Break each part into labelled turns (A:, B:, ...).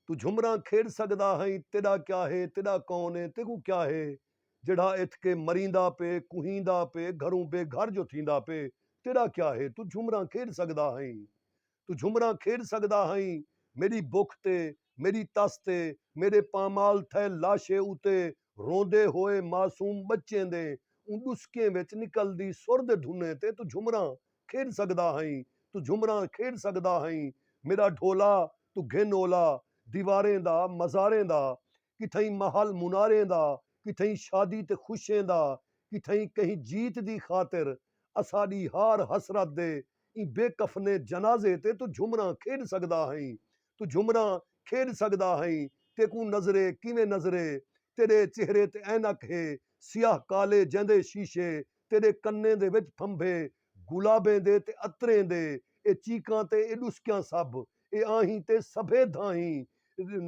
A: توں جھمراں کھیڈ سگدا ہئیں تیڈا کیا ہے تیڈا کون ہے تیکوں کیا ہے جیڈھا اتھ کے مریندا پے کوہیندا پے گھروں بے گھر جو تھیندا پے تیڈا کیا ہے توں جھمراں کھیڈ سگدا ہئیں توں جھمراں کھیڈ سگدا ہئیں میڈی بکھ تے میڈی تس تے میڈے پامال تھئے لاشے اتے روندے ہوئے معصوم بچیں دیں اوں ڈسکیں وچ نکلدی سر دے دھنیں تے توں جھمراں کھیݙ سڳدا ہئیں توں جھمراں کھیݙ سڳدا ہئیں میݙا ڈھولا توں گھن اولا دیواریں دا مزاریں دا کتھئیں محل مناریں دا کتھئیں شادی تے خوشیں دا کتھئیں کہیں جیت دی خاطر اساݙی ہار حسرت دے ایں بے کفنے جنازے تے توں جھمراں کھیݙ سڳدا ہئیں توں جھمراں کھیݙ سڳدا ہئیں تیکوں نظرے کیویں نظرے تیݙے چہرے تے عینک ہے سیاہ کالے جیندے شیشے تیݙے کنیں دے وچ پھمبھے گلابیں دے تے عطریں دے اے چیکاں تے اے ݙسکیاں سبھ اے آہیں تے سبھے دھاہیں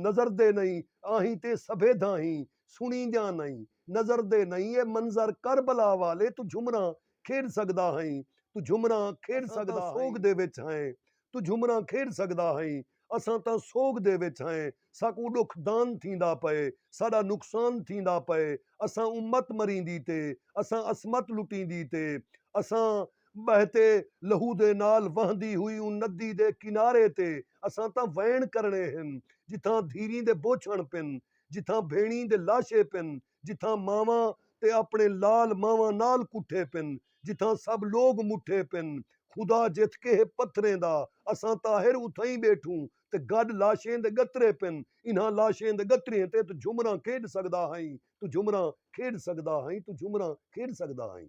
A: نظردے نئیں آہیں تے سبھے دھاہیں سݨیندیاں نئیں نظردے نئیں اے منظر کربلا والے توں جھمراں کھیݙ سڳدا ہئیں توں جھمراں کھیݙ سڳدا ہئیں سوڳ دے وچ ہئیں توں جھمراں کھیݙ سڳدا ہئیں، اساں تاں سوڳ دے وچ ہئیں، ساکوں ݙکھ دان تھیندا پئے، ساݙا نقصان تھیندا پئے، اساں امت مریندی تے، اساں عصمت لٹیندی تے، اساں ٻہتے لہو دے نال وہندی ہوئی اوں ندی دے کنارے تے، اساں تاں ویݨ کرݨے ہن، جتھاں دھیریں دے بوچھݨ پن، جتھاں بھیݨیں دے لاشے پن، جتھاں ماواں تے اپݨے لال ماواں نال کٹھے پن جتھاں سب لوگ مٹھے پن خدا جتھ کیہے پتھریں دا اساں طاہر اتھائیں ٻیٹھوں تے گݙ لاشیں دے ڳترے پن انہاں لاشیں دے ڳتریئیں تے توں جھمراں کھیݙ سڳدا ہئیں توں جھمراں کھیݙ سڳدا ہئیں توں جھمراں کھیݙ سڳدا ہئیں۔